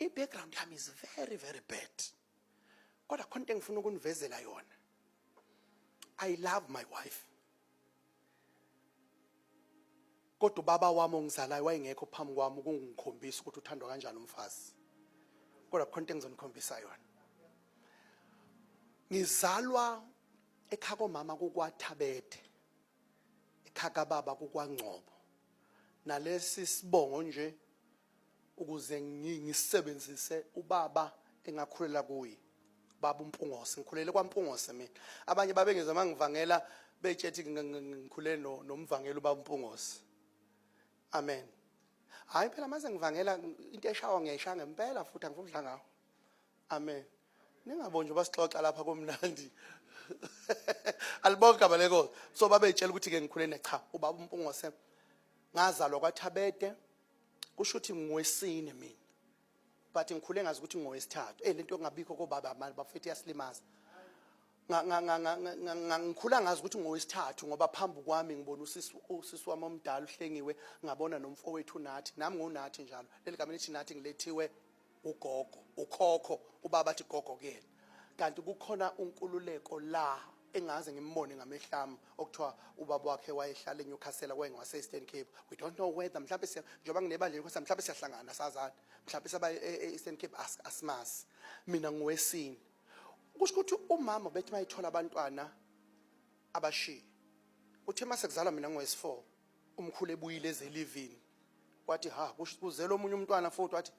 I-background yami is very very bad. Kodwa khona into engifuna ukunivezela yona. I love my wife. Kodwa ubaba wami ongizalayo wayengekho phambi kwami ukungikhombisa ukuthi uthandwa kanjani umfazi. Kodwa khona into engizonikhombisa yona. Ngizalwa ekhaya komama kukwathabethe. Ekhaya kababa kukwangcobo. Nalesi sibongo nje ukuze ngisebenzise ubaba engakhulela kuye baba uMpungose ngikhulele kwaMpungose mina abanye babengeza mangivangela betshethi ngikhulele nomvangela ubaba uMpungose amen hayi phela mase ngivangela into eshawa ngiyayisha ngempela futhi angifuni ukudla ngawo amen ningabonje basixoxa lapha komnandi alibonke abaleko so babetshela ukuthi ke ngikhulene cha ubaba uMpungose ngazalwa kwaThabede kusho ukuthi ngwesine mina but ngikhule ngazi ukuthi ngowesithathu eh lento engabikho kobaba amali bafethu yasilimaza ngikhula ngazi ukuthi ngowesithathu ngoba phambi kwami ngibona usisi usisi wami omdala uhlengiwe ngabona nomfowethu nathi nami ngonathi njalo leli gama lithi nathi ngilethiwe ugogo ukhokho ubaba athi gogo kuyena kanti kukhona unkululeko la engaze ngimbone ngamehlami okuthiwa ubaba wakhe wayehlala eNewcastle kwaye ngwase-Eastern Cape we don't know whether mhlawumbe siya njengoba nginebandla eNewcastle mhlawumbe siyahlangana sazana mhlawumbe saba e, e, e-Eastern Cape asimazi mina ngowesini kusho ukuthi umama bethi mayithola abantwana abashiye uthe uma sekuzalwa mina ngowesi-4 umkhulu ebuyile ezelivini wathi ha kuzela omunye umntwana futhi wathi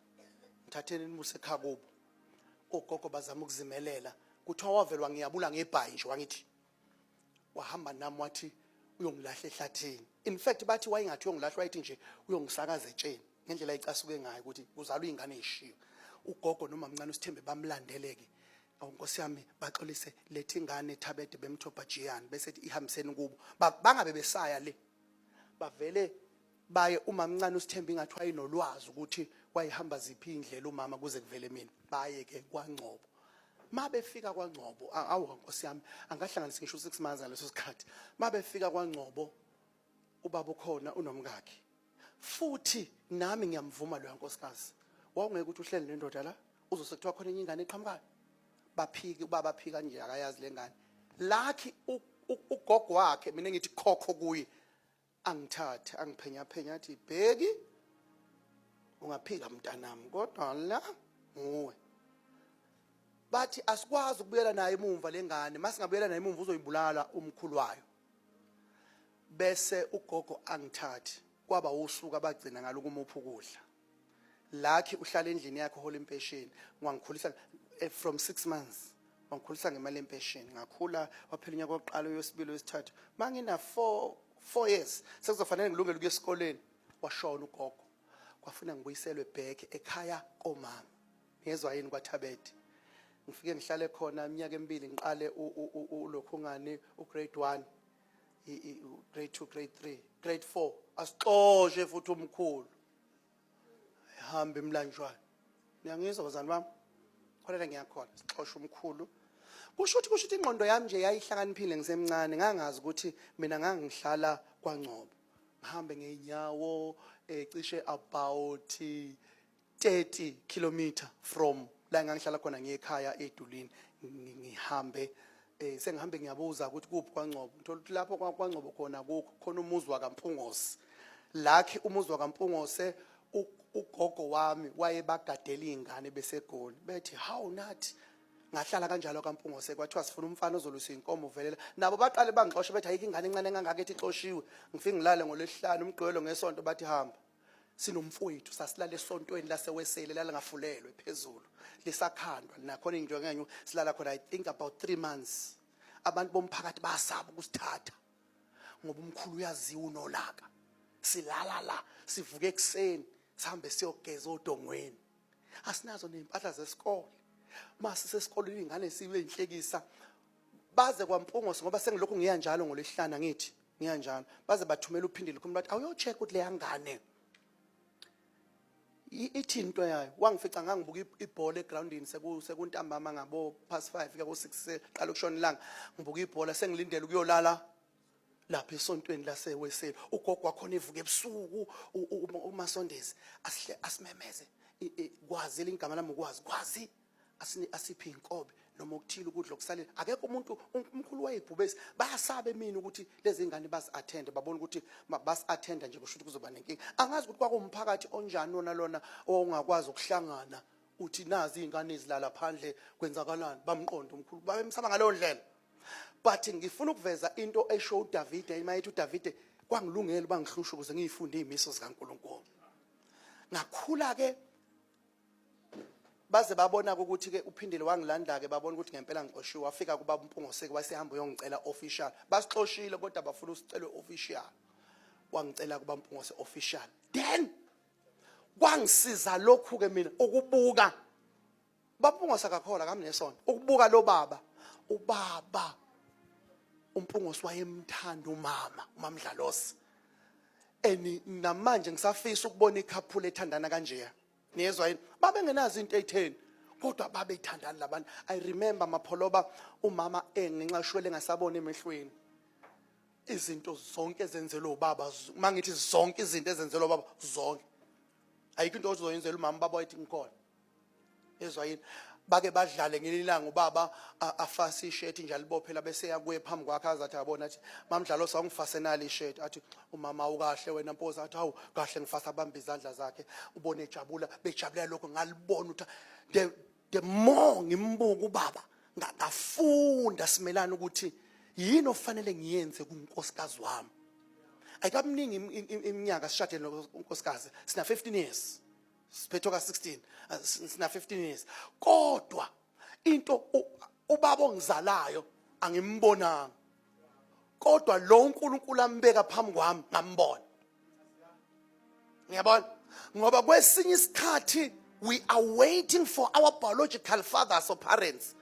ngithatheni nimuse ekhaya kubo ogogo bazama ukuzimelela kuthiwa wavelwa ngiyabula ngebhayi nje wangithi wahamba nami wathi uyongilahla ehlathini in fact bathi wayengathi uyongilahla wayethi nje uyongisakaza etsheni ngendlela ayicasuke ngayo ukuthi uzalwa ingane eshiyo ugogo nomamncane usithembe bamlandeleke awu nkosi yami baxolise lethi ingane ethabede bemthopha jiyani bese ihambiseni kubo bangabe besaya le bavele baye umamncane usithemba ingathi wayenolwazi ukuthi wayihamba ziphi indlela umama kuze kuvele mina baye ke kwangcobo mabefika kwangcobo awu nkosi yami angahlanganisa ngisho 6 months ngaleso sikhathi mabefika kwangcobo ubaba ukhona unomkakhe futhi nami ngiyamvuma loya nkosikazi wawungeke ukuthi uhleli nendoda la uzose kuthiwa khona enye ingane eqhamukayo baphiki ubaba aphika nje akayazi lengane lakhi ugogo wakhe mina ngithi khokho kuye angithathe angiphenya phenya athi bheki ungaphika mntanami kodwa la nguwe bathi asikwazi ukubuyela naye emumva lengane masingabuyela naye emumva uzoyibulala umkhulu wayo bese ugogo angithathi kwaba usuku abagcina ngalo kumupha ukudla lakhi uhlala endlini yakhe hola impesheni ngiwangikhulisa eh, from 6 months wangikhulisa ngemali yempesheni ngakhula waphela unyaka wokuqala uyosibili wesithathu mangina 4 4 years sekuzofanele ngilungele ukuya esikoleni washona ugogo kwafuna ngibuyiselwe back ekhaya komama Ngezwa yini kwaThabethe. Ngifike ngihlale khona iminyaka emibili ngiqale ulokhungani ugrade 1 grade 2 grade 3 grade 4 asixoshe futhi umkhulu ihamba imlanjwana niyangizwa bazani bami khona ngiyakhona sixoshe umkhulu kusho ukuthi kusho ukuthi ingqondo yami nje yayihlakaniphile ngisemncane ngangazi ukuthi mina ngangihlala kwangcobo ngihambe ngeenyawo ecishe about 30 kilometer from la ngangihlala khona ngiyekhaya edulini ngihambe eh sengihambe ngiyabuza ukuthi kuphi kwaNgcobo ngithola ukuthi lapho kwaNgcobo khona kukho khona umuzi wakaMpungose lakhe umuzi wakaMpungose ugogo wami wayebagadela izingane besegoli bethi how nathi ngahlala kanjalo kaMpungose kwathiwa sifuna umfana ozolusa inkomo uvelela nabo baqale bangixoshe bethi ayike ingane encane engangaka ethi ixoshiwe ngifike ngilale ngolesihlanu umgqibelo ngesonto bathi hamba sinomfowethu sasilala esontweni lasewesele lalingafulelwe phezulu lisakhandwa linakhona into ngenye silala khona i think about 3 months abantu bomphakathi basaba ukusithatha ngoba umkhulu uyaziwa unolaka silala la sivuke ekseni sihambe siyogeza odongweni asinazo nezimpahla zesikole mase sesikoleni ingane sibe inhlekisa baze kwampungosi ngoba sengilokhu ngiya njalo ngolesihlanu ngithi ngiyanjalo baze bathumela uphindile kumntu wathi awuyocheck ukuthi leya ngane ithi into yayo wangifica ngangibuka ibhola egroundini sekuntambama ngabo past 5 kuya ko6 seqala ukushona ilanga ngibuka ibhola sengilindele ukuyolala lapha esontweni laseweseli ugogo wakhona evuka ebusuku umasondezi asihle asimemeze kwazi lingama lami ukwazi kwazi asini asiphi inkobe noma okuthile ukudla okusalile akekho umuntu umkhulu wayebhubesi bayasabe mina ukuthi lezi ngane basi attend babona ukuthi basi attend nje kusho ukuthi kuzoba nenkinga angazi ukuthi kwakumphakathi onjani lona lona owungakwazi ukuhlangana uthi nazi izingane ezilala phandle kwenzakalani bamqondo umkhulu babemsaba ngaleyo ndlela but ngifuna ukuveza into esho uDavide imayethi uDavide kwangilungela bangihlusha ukuze ngiyifunde izimiso zikaNkuluNkulu ngakhula ke baze babona-ke ukuthi-ke uphindile wangilanda-ke babona ukuthi ngempela ngixoshiwe wafika kubaba umpungoseke wasehamba uyongicela official basixoshile kodwa bafuna usicelwe official wangicela kubaba umpungose official then kwangisiza lokhu-ke mina ukubuka bapungose kakhola kami nesonto ukubuka lo baba ubaba umpungose wayemthanda umama umamdlalosi and namanje ngisafisa ukubona ikhaphula ethandana kanjeya niyezwa yini babengenazo into eyitheni kodwa babethandani labantu i remember mapholoba umama engenxa shwele engasabona emehlweni izinto zonke ezenzelwe ubaba uma ngithi zonke izinto ezenzelwe ubaba zonke ayikho into ozoyenzela umama baba wayithi ngikhona yezwa yini bake badlale ngelinye ilanga ubaba afase ishirt nje alibophela bese yakuye phambi kwakhe azathi abona athi mamdlalo sawungifasenali ishirt athi umama ukahle wena mpoza athi hawu kahle ngifasa abamba izandla zakhe ubone ejabula bejabulela lokho ngalibona ukuthi the the more ngimbuka ubaba ngafunda simelana ukuthi yini ofanele ngiyenze kunkosikazi wami ayikabuningi iminyaka sishadene nonkosikazi sina 15 years siphethoka 16 uh, sina 15 years kodwa into ubaba ongizalayo angimbonanga kodwa lo uNkulunkulu ambeka phambi kwami ngambona ngiyabona ngoba kwesinye isikhathi we are waiting for our biological fathers or parents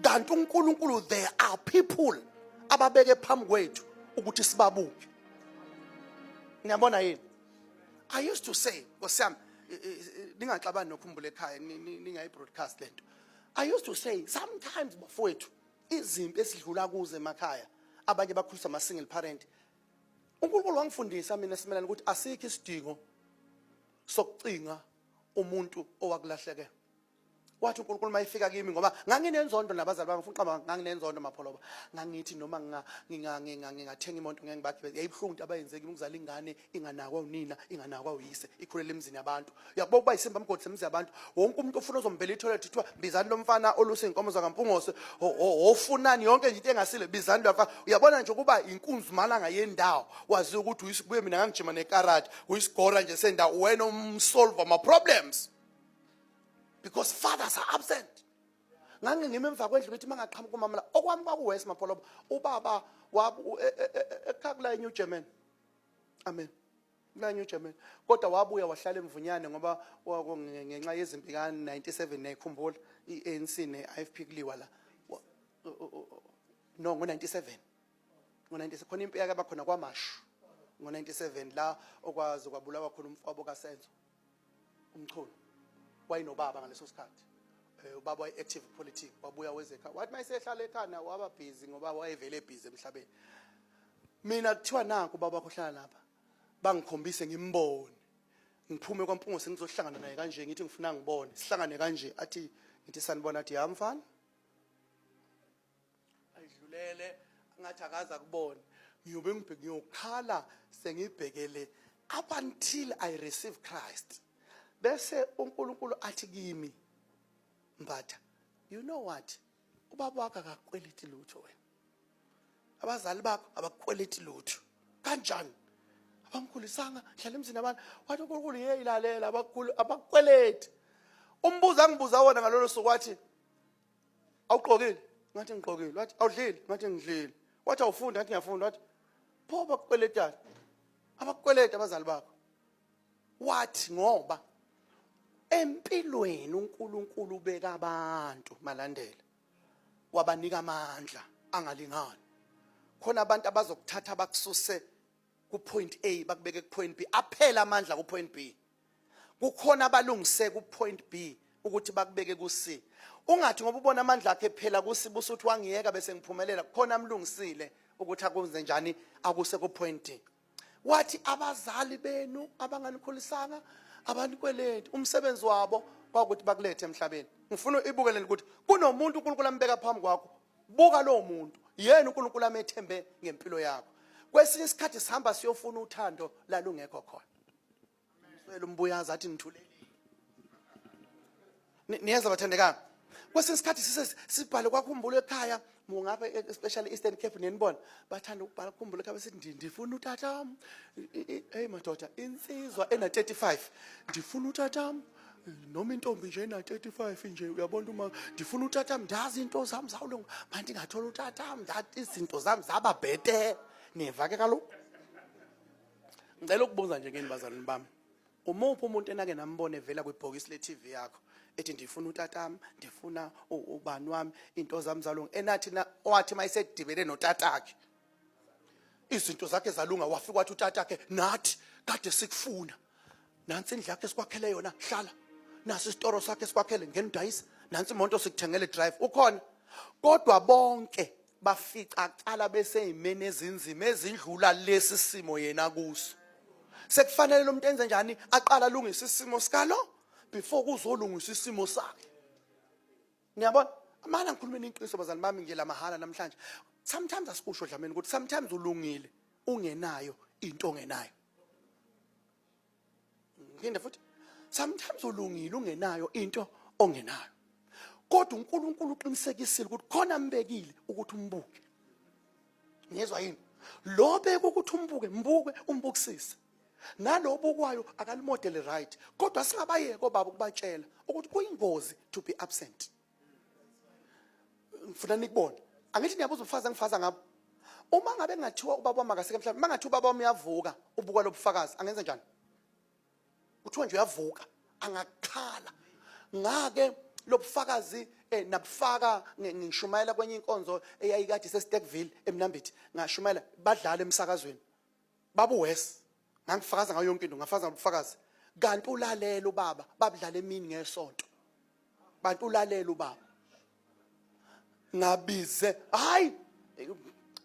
kanti uNkulunkulu there are people ababeke phambi kwethu ukuthi sibabuke niyabona yini I used to say, Nkosi yami, ningaxabani nokhumbula ekhaya ningayi broadcast lento. I used to say sometimes bafowethu izimpi esidlula kuze emakhaya abanye bakhulisa ama single parent. uNkulunkulu wangifundisa mina simelana ukuthi asikho isidingo sokucinga umuntu owakulahlekela. wathi uNkulunkulu mayifika kimi ngoba nganginenzondo nabazali bami ngifuna uqamba nganginenzondo mapholoba ngangithi noma nginga ngingathenga imoto ngeke ngibagibele yayibuhlungu into abayenze kimi ukuzala ingane inganakwa unina inganakwa uyise ikhulela emzini yabantu uyakuba ukuba isimba mgodla emzini yabantu wonke umuntu ofuna uzombela itoilet kuthiwa bizani lomfana olusa inkomo zakampungose ofunani yonke nje into engasile bizani lomfana uyabona nje ukuba inkunzumalanga yendawo wazi ukuthi uyisibuye mina ngangijima nekarate uyisigora nje sendawo wena umsolve ama problems because fathers are absent ngange ngime emva kwendlu ngithi mangaqhamuka umama la okwami kwakuwesi mapholobo ubaba wabu e, e, e, ekhakula eNew German amen kula New German kodwa wabuya wahlala emvunyane ngoba ngenxa yezimpi ka 97 nayikhumbula iANC neIFP kuliwa la no ngo 97 ngo 97 khona impi yake abakhona kwamashu ngo 97 la okwazi kwabulawa khona umfowabo kaSenzo umchunu wayinobaba ngaleso sikhathi eh, ubaba wayi-active politic wabuya wezekha wathi uma esehlala ekhanda waba busy ngoba wayevele ebhizi emhlabeni mina kuthiwa naku ubaba wakho hlala lapha bangikhombise ngimbone ngiphume kwampungo sengizohlangana naye kanje ngithi ngifuna ngibone sihlangane kanje athi ngithi sanibona athi ya mfana ayidlulele ngathi akaza kubona ngiyobe ngibheke ngiyokhala sengibhekele up until i receive christ bese unkulunkulu athi kimi mbatha you know what ubaba wakho akakweliti lutho wena abazali bakho abakweliti lutho kanjani abangikhulisanga hlala emzini abantu wathi unkulunkulu yeyi lalela abakweleti umbuzo angibuza wona ngalolo suku wathi awuqokile ngathi ngiqokile wathi awudlile ngathi ngidlile wathi awufunda ngathi ngiyafunda wathi pho bakukweletani abakukweleta abazali bakho wathi ngoba empilweni uNkulunkulu ubeka abantu malandela wabanika amandla angalingani khona abantu abazokuthatha bakususe ku point A bakubeke ku point B aphela amandla ku point B kukhona abalungise ku point B ukuthi bakubeke ku C ungathi ngoba ubona amandla akhe phela ku C busuthi wangiyeka bese ngiphumelela kukhona amlungisile ukuthi akwenze njani akuse ku point D wathi abazali benu abanganikhulisanga abanikweleti umsebenzi wabo kwakuthi bakulethe emhlabeni ngifuna ibukeleni ukuthi kunomuntu uNkulunkulu ambeka phambi kwakho buka lowo muntu yena uNkulunkulu amethembe ngempilo yakho kwesinye isikhathi sihamba siyofuna uthando lalungekho khona Ngicela umbuyazi athi nithulele. Ni- Niyeza bathandekayo. Kwesinye isikhathi sise sibhale kwakhumbulo ekhaya mungapha e- especially Eastern Cape nenibona bathanda ukubhala khumbulo ekhaya besithi "Ndi- ndifuna utata. Hey madoda insizwa ena 35 ndifuna utata. Noma intombi nje ena 35 nje uyabona uma ndifuna utata ndazi into zami zawulunga manje ngathola utata ndathi izinto zami zaba bhete. Niyeva ke kaloku. ngicela ukubuza nje kini bazalwane bami umuphi umuntu enake nambone vela kwibhokisi le TV yakho ethi ndifuna utatam ndifuna ubani wami into zami zalunga enathi na wathi mayisedibene notatakhe izinto zakhe zalunga wafika wathi utatakhe nathi kade sikufuna nansi indlu yakhe sikwakhele yona hlala nasi isitoro sakhe sikwakhele ngeni dayisa nansi imoto sikuthengele drive ukhona kodwa bonke bafica kuqala beseyimeni ezinzima ezindlula lesi simo yena kuso sekufanele lo muntu enze njani aqala alungise isimo sikalo before kuzolungisa isimo sakhe niyabona amana ngikhulumeni iqiniso bazali bami nje la mahala namhlanje sometimes asikusho dlameni ukuthi sometimes ulungile ungenayo into ongenayo Nginde futhi sometimes ulungile ungenayo into ongenayo. Kodwa uNkulunkulu uqinisekisile ukuthi khona ambekile ukuthi umbuke. Ngizwa yini? Lo beka ukuthi umbuke, mbuke umbukisise. Nalobukwayo akalimodele right. Kodwa singabayeke obaba ukubatshela ukuthi kuyingozi to be absent. ngifuna nikubone angithi niyabuza ubufakazi engifaza ngabo uma ngabe kungathiwa ubaba wami akaseke mhlawumbe uma ngathiwa ubaba wami uyavuka ubuka lobufakazi angenze njani kuthiwa nje uyavuka angakhala ngake lobufakazi eh nabufaka ngishumayela kwenye inkonzo eyayikade seStekville eMnambithi ngashumayela badlala emsakazweni babu worse ngangifakaza ngayo yonke into ngafakaza ngobufakazi kanti ulalela ubaba babudlala emini ngesonto bantu ulalela ubaba ngabize hayi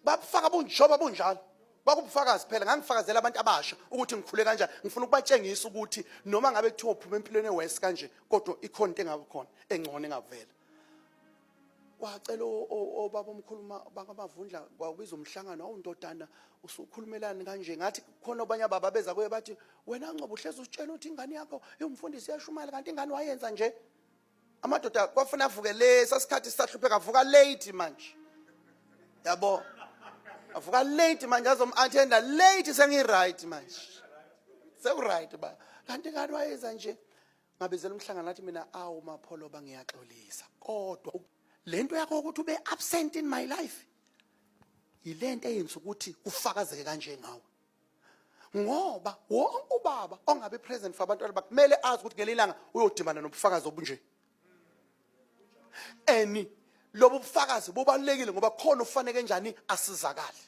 babufaka bunjoba bunjalo kwakubufakazi phela ngangifakazela abantu abasha ukuthi ngikhule kanjani ngifuna ukubatshengisa ukuthi noma ngabe kuthiwa uphuma empilweni ewest kanje kodwa ikhona into engabe khona engcono engavela wacela obaba omkhulu bakamavundla kwakubiza umhlangano awu ndodana usukhulumelani kanje ngathi khona obanye ababa beza kuye bathi wena ngcobo uhlezi usitshela ukuthi ingane yakho iwumfundisi yashumayela kanti ingane wayenza nje amadoda kwafuna avuke le sasikhathi sisahlupheka avuka late manje yabo avuka late manje azom-athenda late sengi-right manje seku-right ba kanti ingane wayenza nje ngabizela umhlangano ngathi mina awu mapholoba ngiyaxolisa kodwa lento yakho ukuthi ube absent in my life yilento eyenza ukuthi ufakazeke kanje ngawe ngoba wonke ubaba ongabe present for abantwana bakhe kumele azi ukuthi ngelinye ilanga uyodimana nobufakazi obunje eni lobu bufakazi bubalulekile ngoba khona ufaneke njani asizakale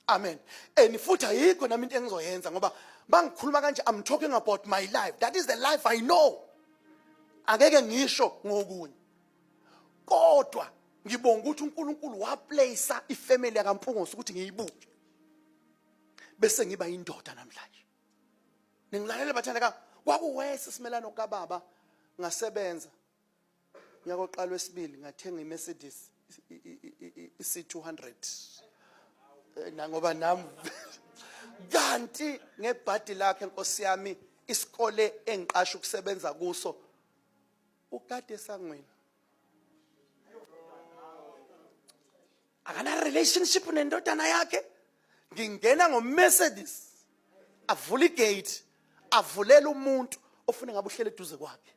amen and futhi ayikho nami into engizoyenza ngoba bangikhuluma kanje i'm talking about my life that is the life i know angeke ngisho ngokunye kodwa ngibonga ukuthi uNkulunkulu waplace ifamily yakampungosi ukuthi ngiyibuke bese ngiba indoda namhlanje ningilalela bathandeka kwakuwese simelano kababa ngasebenza Unyaka oqala wesibili ngathenga iMercedes i-C200 eh, nangoba nam kanti ngebhadi lakhe nkosi yami isikole engiqasha ukusebenza kuso ukade esangweni akana relationship nendodana yakhe ngingena ngomercedes avula igate avulela umuntu ofuna ngabe uhlele eduze kwakhe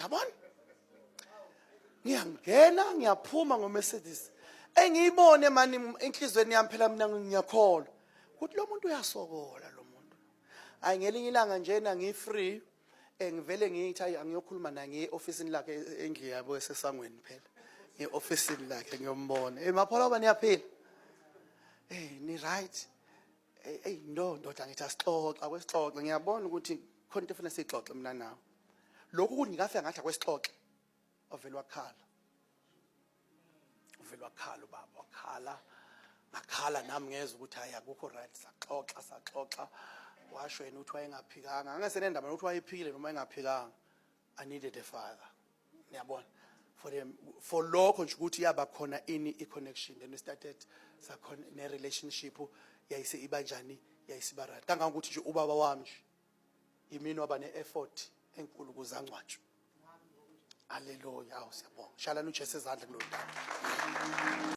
yabona ngiyangena ngiyaphuma ngomercedes engiyibone mani enhlizweni yami phela mina ngiyakholwa ukuthi lo muntu uyasokola lo muntu hayi ngelinye ilanga njena ngifree Eh ngivele ngithi ayi angiyokhuluma naye ngiye officeini lakhe endlu yabo esesangweni phela. Ngiye officeini lakhe ngiyombona. Eh maphola bani yaphila? Eh ni right. Eh hey, no ndoda ngithi asixoxe akwesixoxe ngiyabona ukuthi khona into efuna sixoxe mina nawe. Lokhu kunikafe ngathi akwesixoxe. Ovela wakhala. uvele wakhala ubaba wakhala ngakhala nami ngeza ukuthi hayi akukho right saxoxa saxoxa washo yena ukuthi wayengaphikanga angasenendaba nokuthi wayephikile noma engaphikanga i needed a father niyabona for them for lokho nje ukuthi yaba khona ini i connection then we started sakhona ne relationship yayise ibanjani yayisiba right kangangokuthi nje ubaba wami nje yimini waba ne-effort enkulu ukuze angcwatshwe aleluya awu siyabonga shalani ujesu ezandla kulodaba